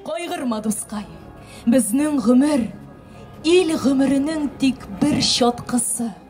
Кайгырма, дускай, безнең гомер ил гомеренең тик бер чаткысы.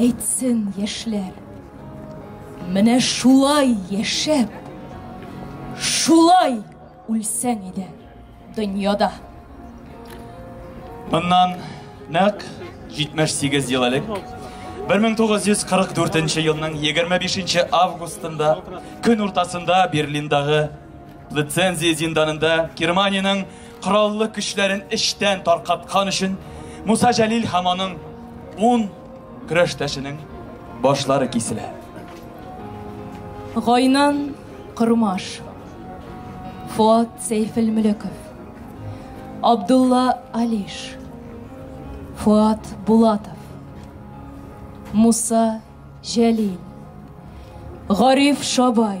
Әйтсен яшьләр, менә шулай яшәп, шулай үлсәң иде дөньяда. Моннан нәкъ 78 ел элек 1944 елның 25 августында көн уртасында Берлиндагы лицензия зинданында Германиянең кораллы көчләрен эчтән таркаткан өчен Муса Җәлил һәм аның ун көрәштәшенең башлары киселә. Гайнан Кырмаш, Фуат Сәйфелмөлеков, Абдулла Алиш, Фуат Булатов, Муса Җәлил, Гариф Шабай,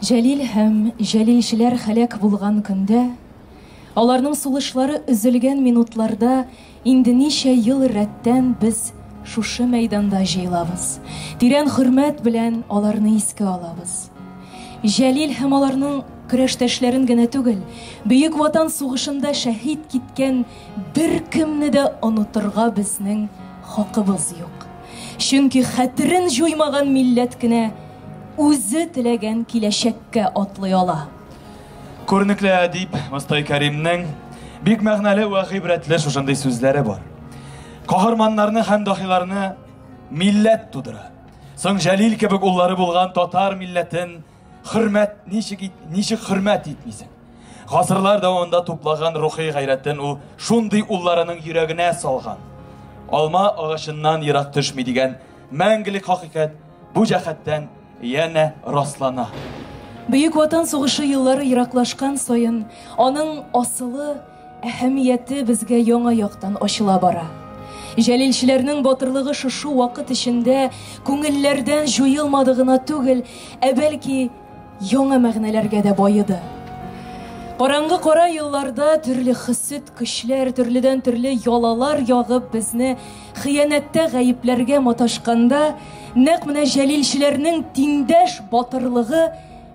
Җәлил һәм җәлилчеләр һәлак булган көндә, аларның сулышлары өзелгән минутларда инде ничә ел рәттән без шушы мәйданда җыелабыз, тирән хөрмәт белән аларны искә алабыз. Җәлил һәм аларның көрәштәшләрен генә түгел, Бөек Ватан сугышында шәһит киткән беркемне дә онытырга безнең хакыбыз юк. Чөнки хәтерен җуймаган милләт кенә үзе теләгән киләчәккә атлый ала. Күренекле әдип Мостай Кәримнең бик мәгънәле вә гыйбрәтле шушындый сүзләре бар. Каһарманнарны һәм дахиларны милләт тудыра. Соң Җәлил кебек уллары булган татар милләтен Хөрмәт ничек ит, ничек хөрмәт итмисең? Гасырлар дәвамында туплаган рухи гайрәтен ул шундый улларының йөрәгенә салган. Алма агачыннан ерак төшми дигән мәңгелек хакыйкать бу җәһәттән янә раслана. Бөек Ватан сугышы еллары ераклашкан саен, аның асылы әһәмияте безгә яңа яктан ачыла бара. Җәлилчеләрнең батырлыгы шушы вакыт эчендә күңелләрдән җуелмады гына түгел, ә бәлки яңа мәгънәләргә дә баеды. Караңгы кара елларда төрле хисет көчләр, төрледән-төрле ялалар ягып безне хыянәттә гаепләргә маташканда, нәкъ менә җәлилчеләрнең тиңдәш батырлыгы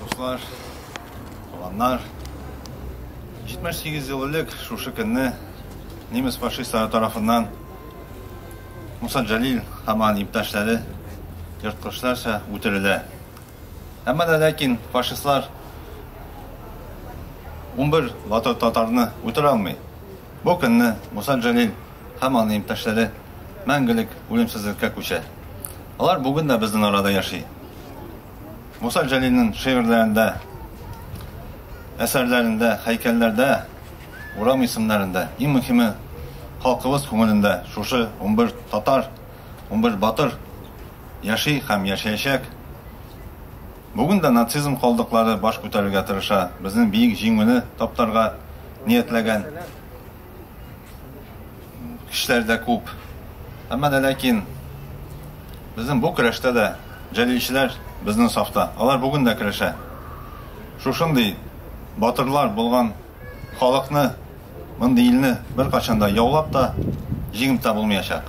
Дуслар, баланнар, 78 ел элек шушы көнне немец фашистлары тарафыннан Муса Җәлил һәм аның иптәшләре ерткычларча үтерелә. Әмма дә ләкин фашистлар 11 батыр татарны үтерә алмый. Бу көнне Муса Җәлил һәм аны иптәшләре мәңгелек үлемсезлеккә күчә. Алар бүген дә безнең арада яши. Муса Җәлилнең шигырьләрендә, әсәрләрендә, һәйкәлләрдә, урам исемнәрендә, иң мөһиме, халкыбыз күңелендә шушы 11 татар, 11 батыр яши һәм яшәячәк. Бүген дә нацизм калдыклары баш күтәрергә тырыша, безнең биек җиңүне таптарга ниятләгән. кешеләр дә күп. Әмма дә ләкин безнең бу көрәштә дә җәлилчеләр безнең сафта. Алар бүген дә көрәшә. Шушындый батырлар булган халыкны, мондый илне беркайчан да яулап та, җиңеп тә булмаячак.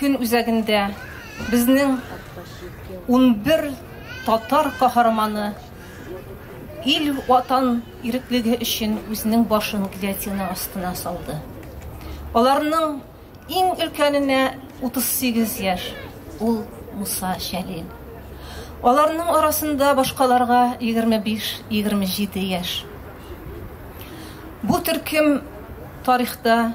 Көн үзәгендә безнең унбер татар каһарманы ил ватан иреклеге өчен үзенең башын гильотина астына салды. Аларның иң өлкәненә 38 яшь, ул Муса Шәлил. Аларның арасында башкаларга 25-27 яшь. Бу төркем тарихта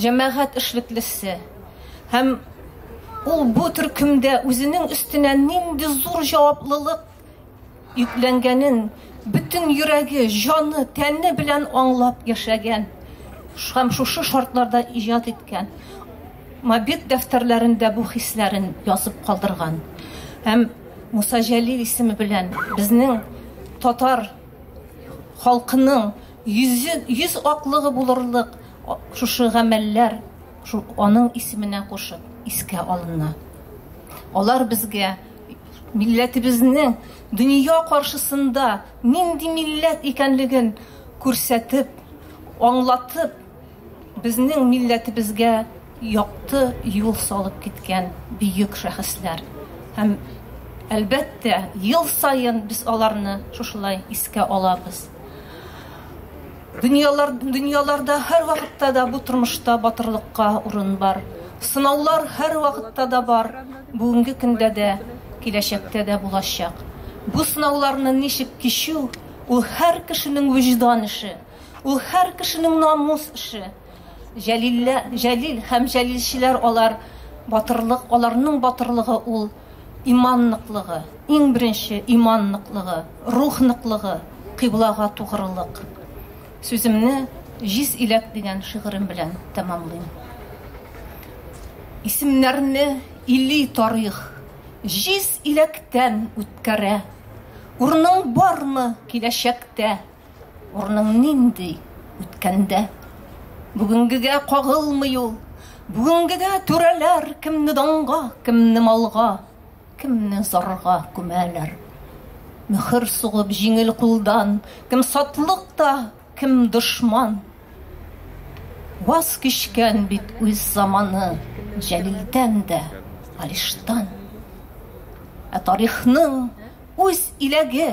Җәмәгать эшлеклесе. Һәм ул бу төркемдә үзенең өстенә нинди зур җаваплылык йөкләнгәнен бөтен йөрәге, җаны, тәне белән аңлап яшәгән һәм шушы шартларда иҗат иткән мобит дәфтәрләрендә бу хисләрен язып калдырган һәм Муса Җәлил исеме белән безнең татар халкының Йөз аклыгы булырлык шушы гамәлләр шул аның исеменә кушып искә алына. Алар безгә милләтебезнең дөнья каршысында нинди милләт икәнлеген күрсәтеп, аңлатып, Безнең милләтебезгә якты юл салып киткән бөек шәхесләр. Һәм, әлбәттә, ел саен без аларны шушылай искә алабыз. Дөньялар, дөньяларда һәрвакытта да бу тормышта батырлыкка урын бар. Сынаулар һәрвакытта да бар, бүгенге көндә дә, киләчәктә дә булачак. Бу сынауларны ничек кичү, ул һәр кешенең вөҗдан эше. Ул һәр кешенең намус эше. Җәлиллә, Җәлил һәм җәлилчеләр алар батырлык, аларның батырлыгы ул иман ныклыгы, иң беренче иман ныклыгы, рух ныклыгы, кыйблага тугрылык. Сүземне Җиз иләк дигән шигырем белән тәмамлыйм. Исемнәрне или тарих җиз иләктән үткәрә. Урның бармы киләчәктә? Урның нинди үткәндә? Бүгенгегә кагылмый ул. Бүгенгегә түрәләр кемне данга, кемне малга, кемне зарга күмәләр. Мөхер сугып җиңел кулдан, кем сатлык та, кем дошман. Ваз кичкән бит үз заманы Җәлилдән дә, Алиштан. Ә тарихның үз иләге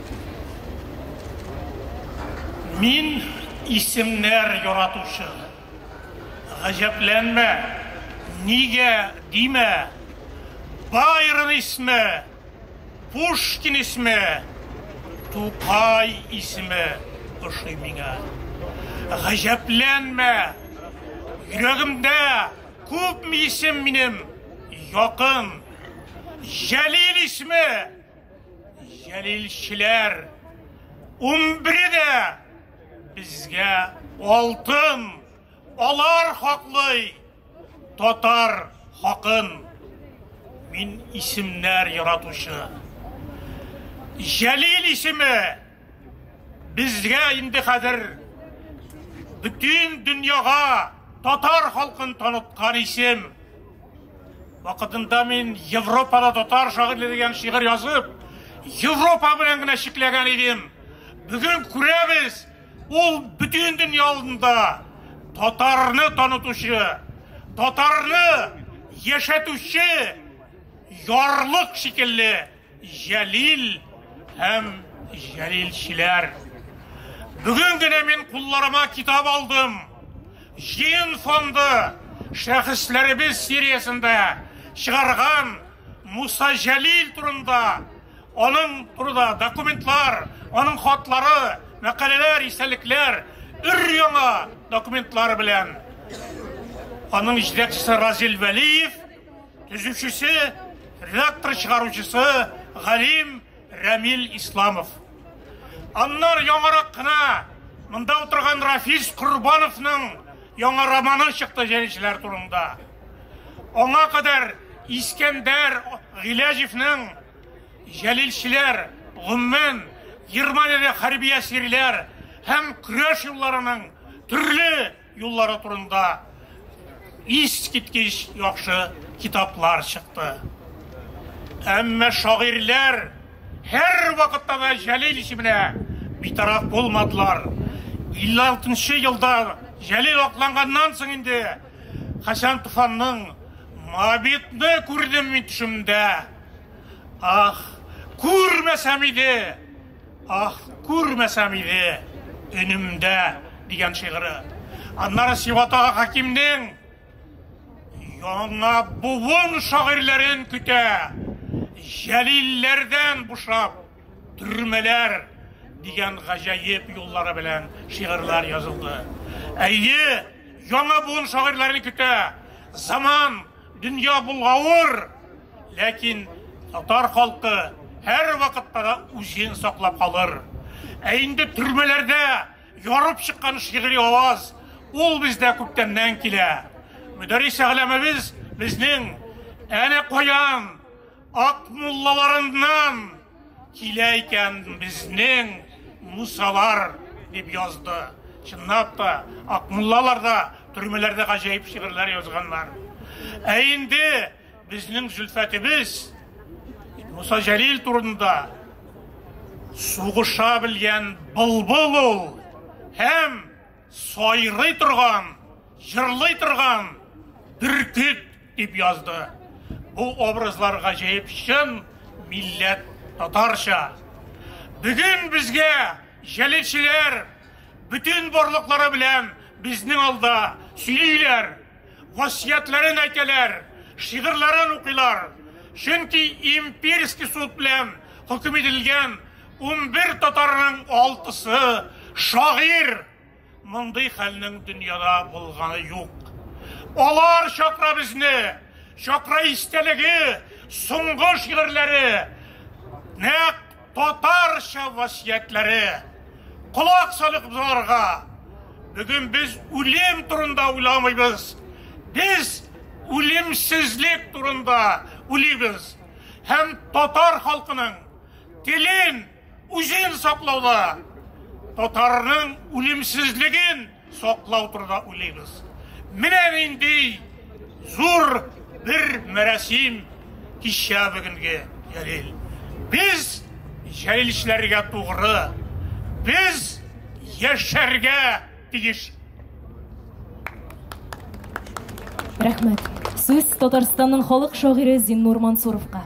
Мин исемнәр яратучы. Гаҗәпләнмә, нигә димә, Байрон исме, Пушкин исме, Тукай исме ошый миңа. Гаҗәпләнмә, йөрәгемдә күпме исем минем якын. Җәлил исме, Җәлилчеләр унбере дә безгә алтын, алар хаклый татар хакын. Мин исемнәр яратучы. Җәлил исеме Безгә инде хәзер бөтен дөньяга татар халкын таныткан исем. Вакытында мин Европада татар шагыйре дигән шигырь язып, Европа белән генә чикләгән идем. Бүген күрәбез, ул бөтен дөнья алдында татарны танытучы, татарны яшәтүче ярлык шикелле. Җәлил һәм җәлилчеләр. Бүген генә мин кулларыма китап алдым. Җыен фонды шәхесләребез сериясендә чыгарган Муса Җәлил турында, аның турында документлар, аның хатлары, мәкаләләр, истәлекләр, өр-яңа документлар белән. Аның җитәкчесе Разил Вәлиев Төзүчесе, редактор чыгаручысы Галим Рәмил Исламов. Аннар яңарак кына монда утырган Рафис Курбановның яңа романы чыкты җәлишләр турында. Аңа кадәр Искәндәр Гиләҗевнең җәлилчеләр, гомумән, Германиядә хәрби әсирләр һәм көрәш юлларының төрле Юллары турында искиткеч яхшы китаплар чыкты. Әмма шагыйрьләр һәрвакытта да Җәлил исеменә битараф булмадылар. 56 нчы елда Җәлил акланганнан соң инде Хәсән Туфанның Моабитны күрдем мин төшемдә. Ах, күрмәсәм иде! Ах, күрмәсәм иде өнемдә дигән шигыре. Аннары Сиватага хакимнең яңа буын шагыйрьләрен көтә. Җәлилләрдән бушап, төрмәләр дигән гаҗәеп юллары белән шигырьләр язылды. Әйе, яңа буын шагыйрьләрен көтә. Заман, дөнья булгавыр, Ләкин татар халкы һәр вакытта да үзен саклап калыр. Ә инде төрмәләрдә ярып чыккан шигъри аваз ул бездә күптәннән килә. Мөдәррис әгъләмебез безнең әнә каян ак муллаларыннан килә икән безнең мусалар дип язды. Чынлап та ак муллалар да төрмәләрдә гаҗәеп шигырьләр язганнар. Ә инде Безнең Зөлфәтебез Муса Җәлил турында сугыша белгән былбыл ул һәм сайрый торган, җырлый торган бөркет дип язды. Бу образлар гаҗәеп чын милләт татарча. Бүген безгә җәлилчеләр бөтен барлыклары белән безнең алда сөйлиләр. Васиятләрен әйтәләр, шигырьләрен укыйлар. Чөнки имперский суд белән хөкем ителгән унбер татарның алтысы шагыйрь. Мондый хәлнең дөньяда булганы юк. Алар чакра безне, чакра истәлеге, соңгы шигырьләре нәкъ Татарча васыятьләре колак салып узарга. Бүген без үлем турында уйламыйбыз. Без үлемсезлек турында уйлыйбыз. Һәм татар халкының телен, үзен саклауда татарның үлемсезлеген саклау турында уйлыйбыз. Менә нинди зур бер мәрәсим кичә бүгенге Җәлил. Без җәлилчеләргә тугры, без яшәргә тиеш. Рәхмәт. Сүз Татарстанның халык шагыйре Зиннур Мансуровка.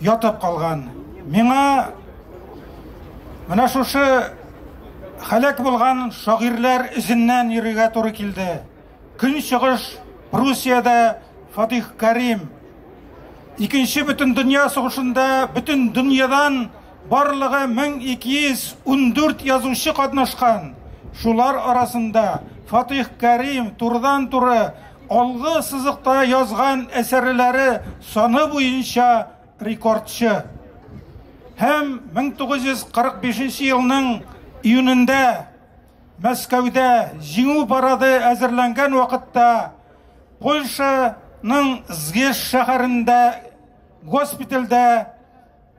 ятып калган. Миңа менә шушы халәк булган шагыйрьләр эзеннән йөрергә туры килде. Көнчыгыш Пруссиядә Фатих Карим. Икенче бөтен дөнья сугышында бөтен дөньядан Барлыгы 1214 язучы катнашкан, шулар арасында Фатыйх Кәрим турыдан-туры алгы сызыкта язган әсәрләре саны буенча рекордчы һәм 1945 елның июнендә Мәскәүдә Җиңү парады әзерләнгән вакытта Польшаның Згеш шәһәрендә госпитальдә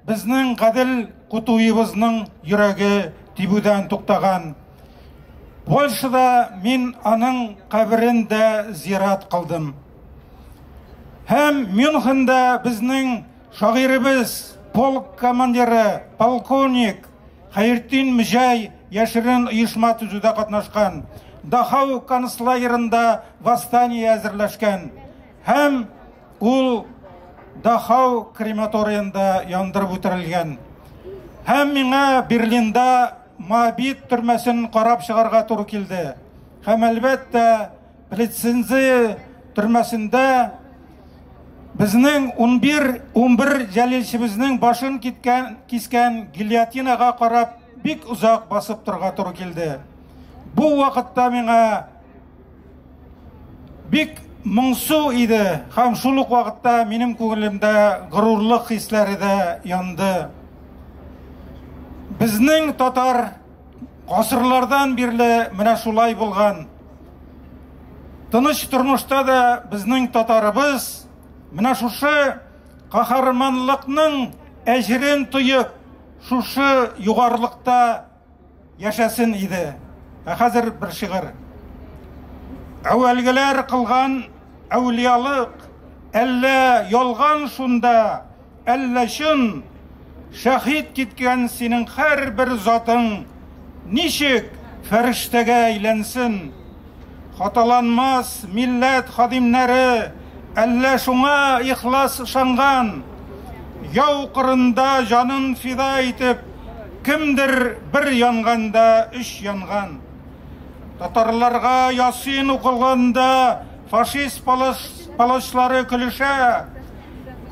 Безнең гадел кутуебызның йөрәге тибүдән туктаган. Польшада мин аның каберен дә зират кылдым. Һәм Мюнхендә безнең шагыйребез, полк командиры, полковник Хәертдин Мҗай яшерен оешма төзүдә катнашкан. Дахау концлагерында восстание әзерләшкән. Һәм ул Дахау крематориенда яндырып үтерелгән. Һәм миңа Берлинда Мабит төрмәсен карап чыгарга туры килде. Һәм әлбәттә, Плецензи төрмәсендә безнең 11 11 җәлилчебезнең башын киткән кискән гильотинага карап бик озак басып торга туры килде. Бу вакытта миңа Бик моңсу иде һәм шул ук вакытта минем күңелемдә горурлык хисләре дә янды. Безнең татар гасырлардан бирле менә шулай булган. Тыныч тормышта да безнең татарыбыз менә шушы каһарманлыкның әҗерен тоеп, шушы югарлыкта Яшәсен иде. Ә хәзер бер шигырь. Әүвәлгеләр кылган әүлиялык, әллә ялган шунда, әллә чын, шәһид киткән синең һәрбер затың ничек фәрештәгә әйләнсен? Хаталанмас милләт хадимнәре әллә шуңа ихлас ышанган, яу кырында җанын фида итеп, кемдер бер янганда өч янган. Татарларга ясин укылганда фашист палачлары көлешә,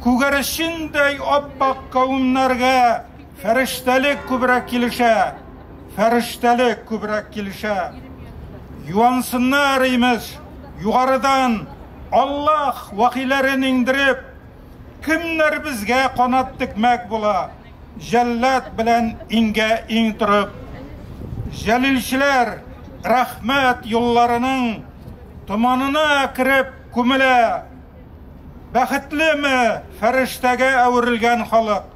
күгәрчендәй ап-ак кавемнәргә Фәрештәлек күбрәк килешә, фәрештәлек күбрәк килешә. Юансыннар, имеш, югарыдан Аллаһ вахиләрен иңдереп, кемнәр безгә канат текмәк була, җәллад белән иңгә иң торып. Җәлилчеләр рәхмәт юлларының томанына кереп күмелә. Бәхетлеме фәрештәгә әверелгән халык!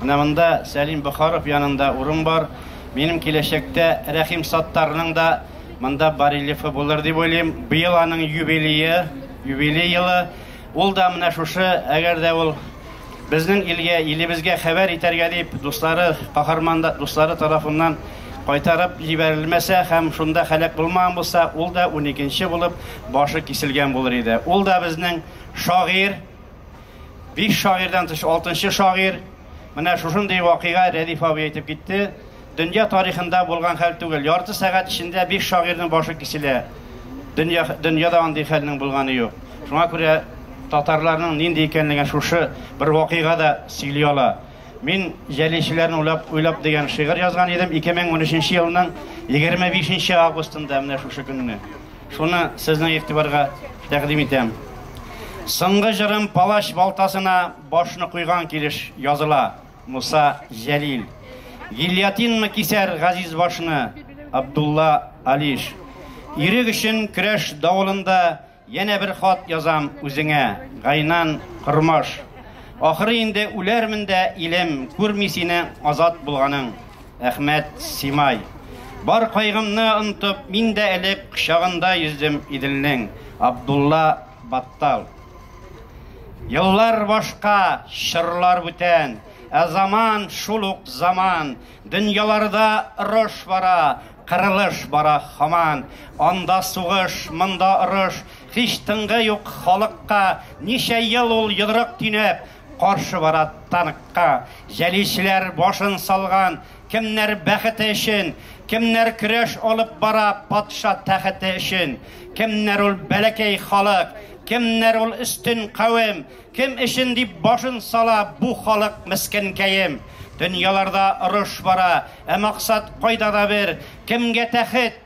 Менә монда Сәлим Бохаров янында урын бар. Минем киләчәктә Рәхим Саттарның да монда барельефы булыр дип уйлыйм. Быел аның юбилее, юбилей елы. Ул да менә шушы, әгәр дә ул безнең илгә, илебезгә хәбәр итәргә дип дуслары, каһарман дуслары тарафыннан кайтарып җибәрелмәсә һәм шунда һәлак булмаган булса, ул да 12 нче булып башы киселгән булыр иде. Ул да безнең шагыйрь, Биш шагыйрьдән тыш алтынчы шагыйрь, менә шушындый вакыйга Рәдиф абый әйтеп китте. Дөнья тарихында булган хәл түгел. Ярты сәгать эчендә биш шагыйрьнең башы киселә. Дөнья, дөньяда андый хәлнең булганы юк. Шуңа күрә татарларның нинди икәнлеген шушы бер вакыйга да сөйли ала. Мин җәлилчеләрне уйлап, уйлап дигән шигырь язган идем 2013 елның 25 августында менә шушы көнне. Шуны сезнең игътибарга тәкъдим итәм. Соңгы җырым палач балтасына башны куйган килеш языла. Муса Җәлил. Гильятинмы кисәр газиз башны? Абдулла Алиш. Ирек өчен көрәш давылында янә бер хат язам үзеңә. Гайнан Кормаш. Ахыры инде үләрмен дә, илем, күрми сине азат булганың. Әхмәт Симай. Бар кайгымны онтып, мин дә элек кочагында йөздем Иделнең. Абдулла Баттал. Еллар башка, чорлар бүтән, ә заман шул ук заман. Дөньяларда рош бара, кырылыш бара хаман. Анда сугыш, монда орыш, һич тынгы юк халыкка. Ничә ел ул йодрык тинәп, Каршы бара танкка җәлишләр башын салган, кемнәр бәхете өчен, кемнәр көрәш алып бара патша тәхете өчен, кемнәр ул бәләкәй халык, кемнәр ул өстен кавем, кем өчен дип башын сала бу халык мескенкәем. Дөньяларда орыш бара, ә максат кайда да бер, кемгә тәхет,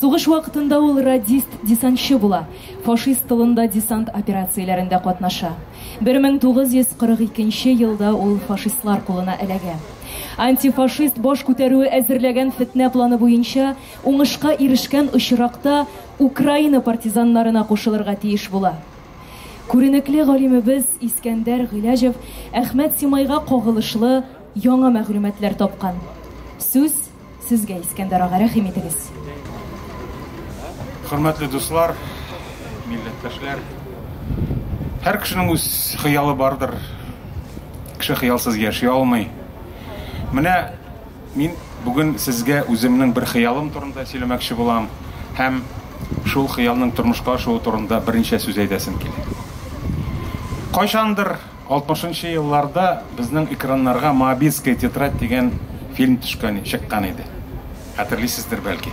Сугыш вакытында ул радист-десантчы була, фашист тылында десант операцияләрендә катнаша. 1942 елда ул фашистлар кулына эләгә. Антифашист баш күтәрүе әзерләгән фетнә планы буенча, уңышка ирешкән очракта, Украина партизаннарына кушылырга тиеш була. Күренекле галимебез Искәндәр Гыйләҗев Әхмәт Симайга кагылышлы яңа мәгълүматлар тапкан. Сүз Сезгә, Искәндәр ага, рәхим итегез. Хөрмәтле дуслар, милләттәшләр. Һәр кешенең үз хыялы бардыр. Кеше хыялсыз яши алмый. Менә мин бүген сезгә үземнең бер хыялым турында сөйләмәкче булам һәм шул хыялның тормышка ашуы турында берничә сүз әйтәсем килә. Кайчандыр Алтмышынчы елларда безнең экраннарга Моабитская тетрадь дигән фильм төшкән, чыккан иде. Хәтерлисездер, бәлки.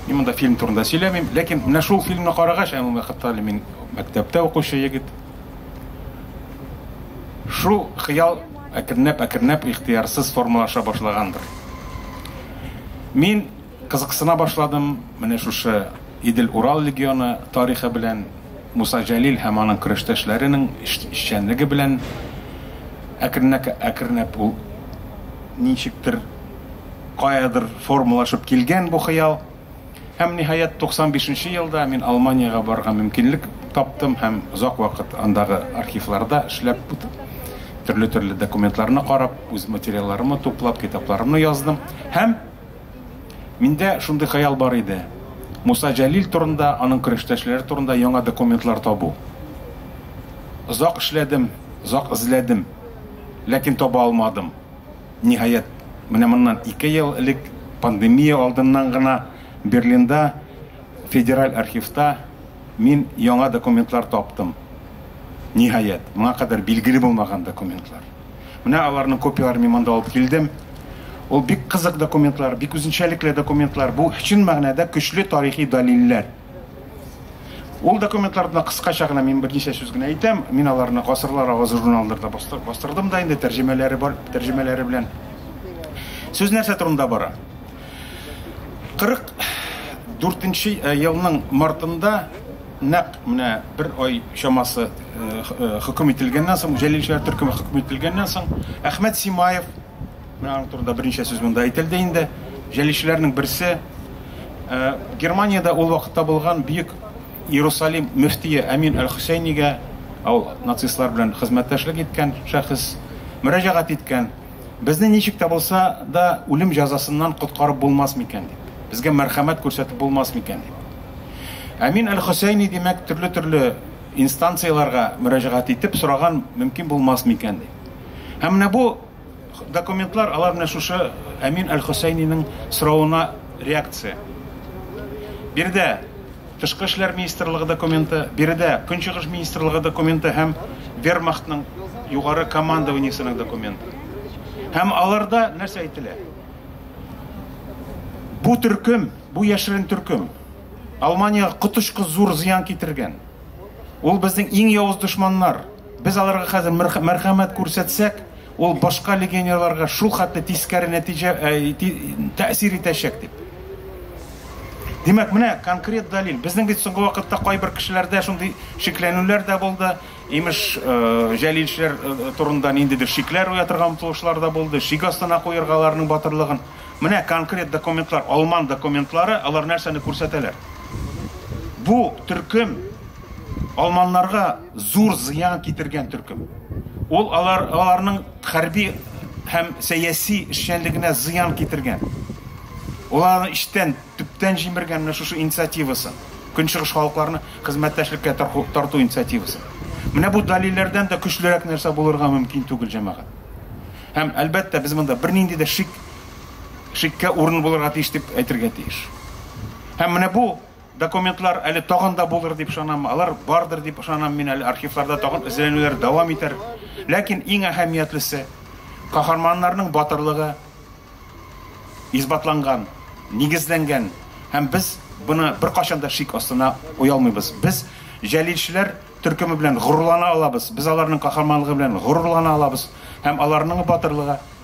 Мин монда фильм турында сөйләмим, ләкин менә шул фильмны карагач, ә ул вакытта әле мин мәктәптә укучы егет, шул хыял әкренләп-әкренләп ихтыярсыз формалаша башлагандыр. Мин кызыксына башладым менә шушы Идел-Урал легионы тарихы белән. Муса Җәлил һәм аның көрәштәшләренең эшчәнлеге белән әкренәкәкренәп ул ничектер, каядыр формалашып килгән бу хыял. Һәм, ниһаять, 95 нче елда мин Алманиягә барырга мөмкинлек таптым һәм озак вакыт андагы архивларда эшләп, төрле-төрле документларны карап, үз материалларымны туплап, китапларымны яздым һәм, Миндә шундый хыял бар иде. Муса Җәлил турында, аның көрәштәшләре турында яңа документлар табу. Озак эшләдем, озак эзләдем, ләкин таба алмадым. Ниһаять, менә моннан ике ел элек, пандемия алдыннан гына Берлинда федераль архивта мин яңа документлар таптым. Ниһаять, моңа кадәр билгеле булмаган документлар. Менә аларның копияләрен мин монда алып килдем. Ул бик кызык документлар, бик үзенчәлекле документлар. Бу чын мәгънәдә көчле тарихи дәлилләр. Ул документларда кыскача гына мин берничә сүз генә әйтәм. Мин аларны гасырлар авазы журналында бастырдым да инде тәрҗемәләре бар, тәрҗемәләре белән. Сүз нәрсә турында бара? 44 э, елның мартында Нәкъ менә бер ай чамасы хөкем ителгәннән соң, Җәлил шәһәр төркеме хөкем ителгәннән соң, Әхмәт Симаев, менә аның турында берничә сүз монда әйтелде инде, җәлилчеләрнең берсе, Германиядә ул вакытта булган бөек Иерусалим мөфтие Әмин әл-Хөсәйнигә, ул нацистлар белән хезмәттәшлек иткән шәхес, мөрәҗәгать иткән. Безне ничек тә булса да үлем җәзасыннан коткарып булмас микән дип, безгә мәрхәмәт күрсәтеп булмас микән дип. Әмин әл-Хөсәйни, димәк, төрле-төрле инстанцияләргә мөрәҗәгать итеп сораган, мөмкин булмас микән дип. Һәм менә бу документлар, алар менә шушы Әмин әл-Хөсәйнинең соравына реакция. Биредә Тышкы эшләр министрлыгы документы, биредә Көнчыгыш министрлыгы документы һәм Вермахтның югары командованиесенең документы. Һәм аларда нәрсә әйтелә? Бу төркем, бу яшерен төркем Алманиягә коточкы зур зыян китергән. Ул безнең иң явыз дошманнар. Без аларга хәзер мәрхәмәт күрсәтсәк, ул башка легионерларга шул хәтле тискәре нәтиҗә тәэсир итәчәк дип. Димәк, менә конкрет дәлил. Безнең бит соңгы вакытта кайбер кешеләрдә шундый шикләнүләр дә булды. Имеш, җәлилчеләр турында ниндидер шикләр уятырга омтылышлар да булды. Шик астына куярга аларның батырлыгын. Менә конкрет документлар, алман документлары, алар нәрсәне күрсәтәләр? Бу төркем алманнарга Зур зыян китергән төркем. Ул алар, аларның хәрби һәм сәяси эшчәнлегенә зыян китергән. Ул аларны эчтән, төптән җимергән менә шушы инициативасын, Көнчыгыш халыкларны хезмәттәшлеккә тарту инициативасын. Менә бу дәлилләрдән дә көчлерәк нәрсә булырга мөмкин түгел, җәмәгать. Һәм, әлбәттә, без монда бернинди дә шик, шиккә урын булырга тиеш дип әйтергә тиеш. Һәм менә бу, Документлар әле тагын да булыр дип ышанам, алар бардыр дип ышанам мин әле архивларда тагын эзләнүләр дәвам итәр. Ләкин иң әһәмиятлесе каһарманнарның батырлыгы исбатланган, нигезләнгән һәм без буны беркайчан да шик астына уялмыйбыз. Без җәлилчеләр төркеме белән горурлана алабыз, без аларның каһарманлыгы белән горурлана алабыз һәм аларның батырлыгы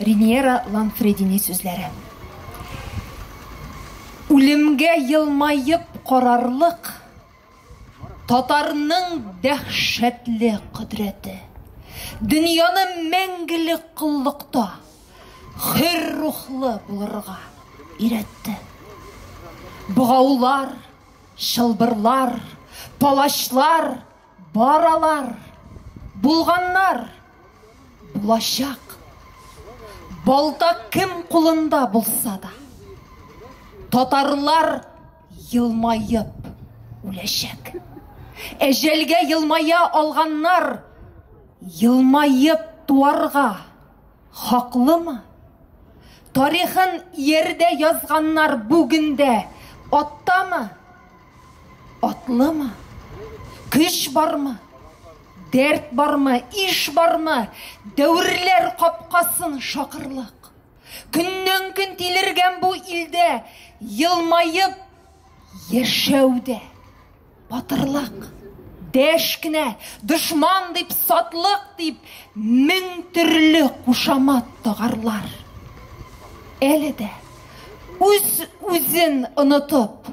Риниера Ланфредини сүзләре. Үлемгә елмаеп карарлык татарның дәһшәтле кодрәте. Дөньяны мәңгелек коллыкта хөр рухлы булырга өйрәтте. Богаулар, чылбырлар, палачлар Баралар, булганнар, булачак. Балта кем кулында булса да. Татарлар елмаеп үләчәк. Әҗәлгә елмая алганнар елмаеп туарга хаклымы? Тарихын иярдә язганнар бүгендә аттамы? Атлымы? Көч бармы? Дәрт бармы? Иш бармы? Дәверләр капкасын шакырлык. Көннән көн тилергән бу илдә елмаеп яшәүдә батырлык дәш кенә дошман дип сатлык дип мең төрле кушамат тагарлар әле дә үз үзен онытып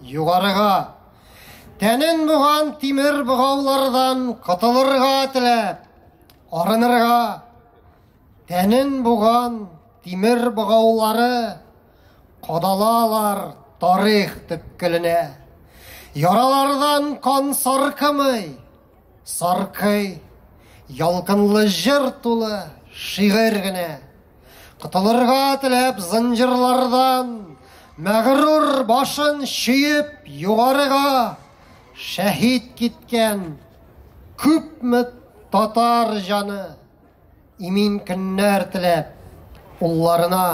Югарыга! Тәнен буган тимер богаулардан котылырга теләп, арынырга! Тәнен буган тимер богаулары кадалалар тарих төпкеленә. Яралардан кан саркымый, Саркый, ялкынлы җыр тулы, шигырь генә. Котылырга теләп зынҗырлардан, мәгърур башын чөеп югарыга шәһид киткән күпме татар җаны имин көннәр теләп улларына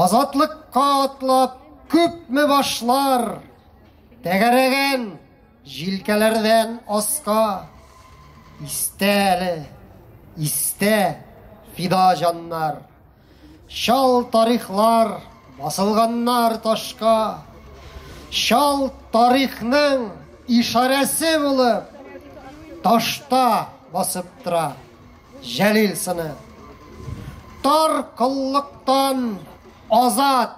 азатлыкка атлап күпме башлар тәгәрәгән Җилкәләрдән аска истә әле, истә фида җаннар. Чал тарихлар басылганнар ташка. Чал тарихның ишарәсе булып ташта басып тора Җәлил сыны. Тар коллыктан азат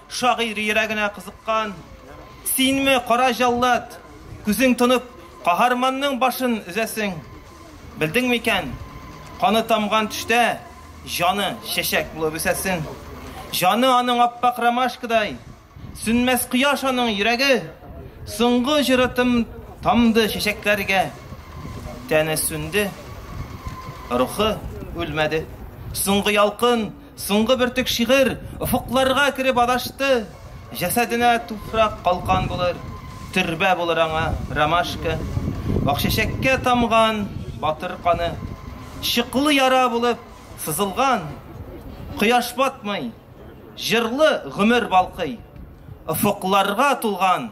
Шагыйрь йөрәгенә кызыккан. Синме, кара җаллад, күзең тонып, каһарманның башын өзәсең? Белдең микән? Каны тамган төштә җаны чәчәк булып үсәсен. Җаны аның аппак ромашкадай, сүнмәс кояш аның йөрәге. Соңгы җыры тым тамды чәчәкләргә. Тәне сүнде, рухы үлмәде. Соңгы ялкын Соңгы бөртек шигырь офыкларга кереп адашты. Җәсәденә туфрак калкан булыр, төрбә булыр аңа ромашка. Акчәчәккә тамган батыр каны, чыклы яра булып сызылган. Кояш батмый, җырлы гомер балкый, офыкларга тулган.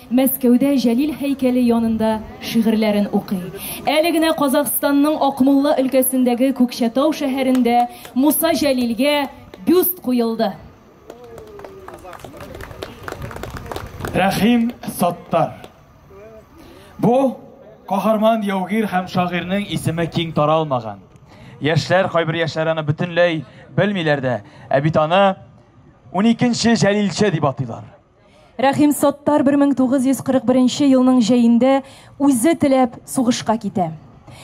Мәскәүдә Җәлил һәйкәле янында шигырьләрен укый. Әле генә Казахстанның Акмулла өлкәсендәге Күкчәтау шәһәрендә Муса Җәлилгә бюст куелды. Рәхим Саттар. Бу, каһарман яугир һәм шагыйрьнең исеме киң таралмаган. Яшьләр, кайбер яшьләр аны бөтенләй белмиләр дә, ә бит аны уникенче Җәлилче дип атыйлар. Рәхим Саттар 1941 елның җәендә үзе теләп сугышка китә.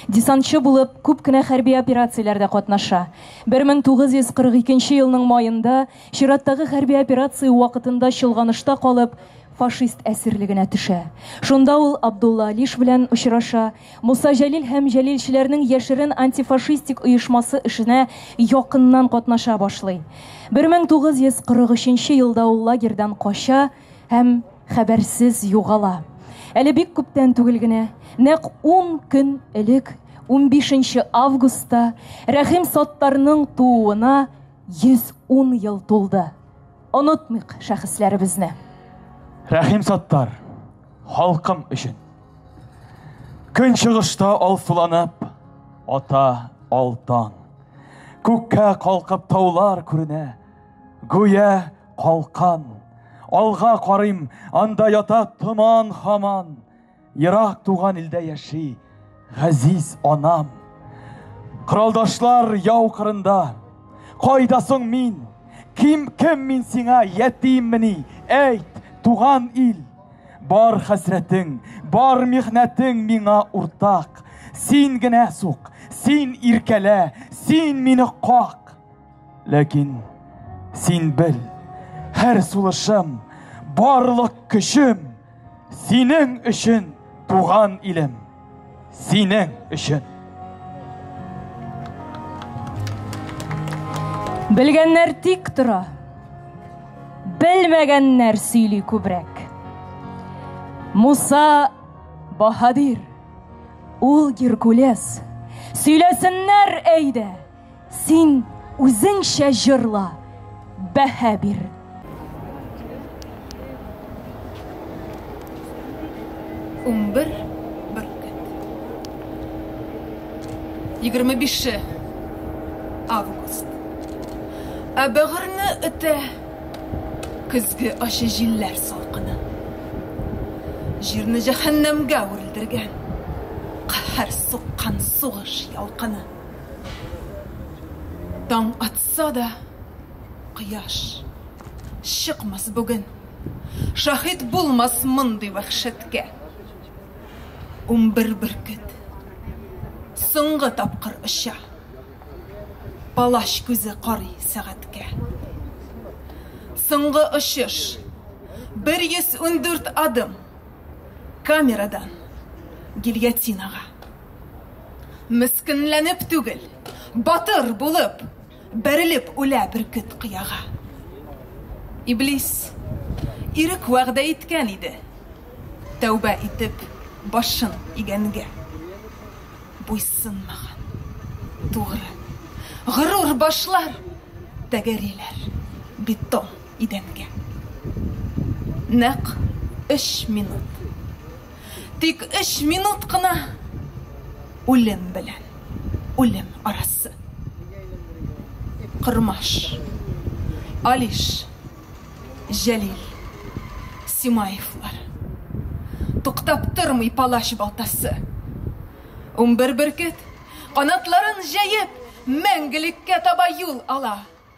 Десантчы булып күп кенә хәрби операцияләрдә катнаша. 1942 елның маенда чираттагы хәрби операция вакытында чолганышта калып, фашист әсирлегенә төшә. Шунда ул Абдулла Алиш белән очраша, Муса Җәлил һәм җәлилчеләрнең яшерен антифашистик оешмасы эшенә якыннан катнаша башлый. 1943 елда ул лагерьдан кача һәм хәбәрсез югала. Әле бик күптән түгел генә, нәкъ ун көн элек, унбишенче августта, Рәхим Саттарның тууына 110 ел тулды. Онытмыйк шәхесләребезне! Рәхим Саттар! Халкым өчен. Көнчыгышта алсуланып, ата алтан. Күккә калкып таулар күренә, гүя калкан. Алга карыйм, анда ята томан хаман. Ерак туган илдә яши, Газиз анам, кыралдашлар яу кырында, кайда соң мин? Ким кем мин сиңа ятиммени? Әйт, туган ил, бар хәсрәтең, бар михнәтең миңа уртак. Син генә сук, син иркәлә, син мине как. Ләкин син бел, һәр сулышым, барлык көчем Синең өчен, туган илем, синең өчен. Белгәннәр тик тора. Белмәгәннәр сөйли күбрәк. Муса Баһадир, ул Геркулес. Сөйләсеннәр әйдә. Син үзеңчә җырла, бәһә бир. Унбер бөркет. Егерме бише август. Ә бәгырьне үтә көзге ачы җилләр салкыны. Җирне җәһәннәмгә үрелдергән, каһәр суккан сугыш ялкыны. Таң атса да, кояш чыкмас бүген. Шаһит булмас мондый вәхшәткә. Унбер бөркет соңгы тапкыр оча. Палач күзе карый сәгатькә. Соңгы очыш. 114 адым. Камерадан гильотинага. Мескенләнеп түгел, батыр булып, бәрелеп үлә бөркет кыяга. Иблис, ирек вәгъдә иткән иде, тәүбә итеп башын игәнгә. Буйсынмаган, тугры, горур башлар тәгәриләр бетон идәнгә. Нәкъ өч минут. Тик өч минут кына үлем белән үлем арасы. Кормаш, Алиш, Җәлил, Симаевлар. Туктап тормый палач балтасы. Унбер бөркет, канатларын җәеп, мәңгелеккә таба юл ала.